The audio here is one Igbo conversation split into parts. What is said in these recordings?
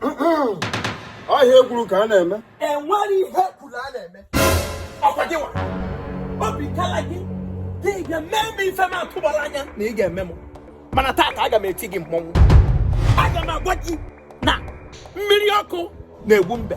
ọ ihe ekwuru ka a na-eme enwere ihe ekwuru a na-eme ọkwa gị nwa obi kala gị gị ga-eme m ife m atụbara anya na ị ga-eme m mana taata aga m eti gị mmọnwụ aga m agwa gị na mmiri ọkụ na-egbu mbe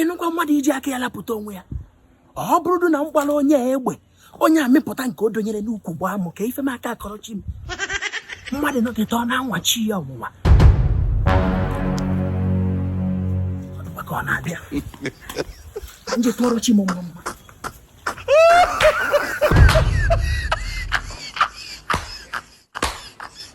ịnụkwa mmadụ iji aka ya lapụta onwe ya ọ bụrụdụ na m gbara onye egbe onye a mịpụta nke o donyere n'ukwu gbaa m kee ife m aka akọrọ chi m mmadụ nọkata ọ na-anwa chi ya ọnwụnwa ka ọ na-abịa m je tụọrọ chi m mma mma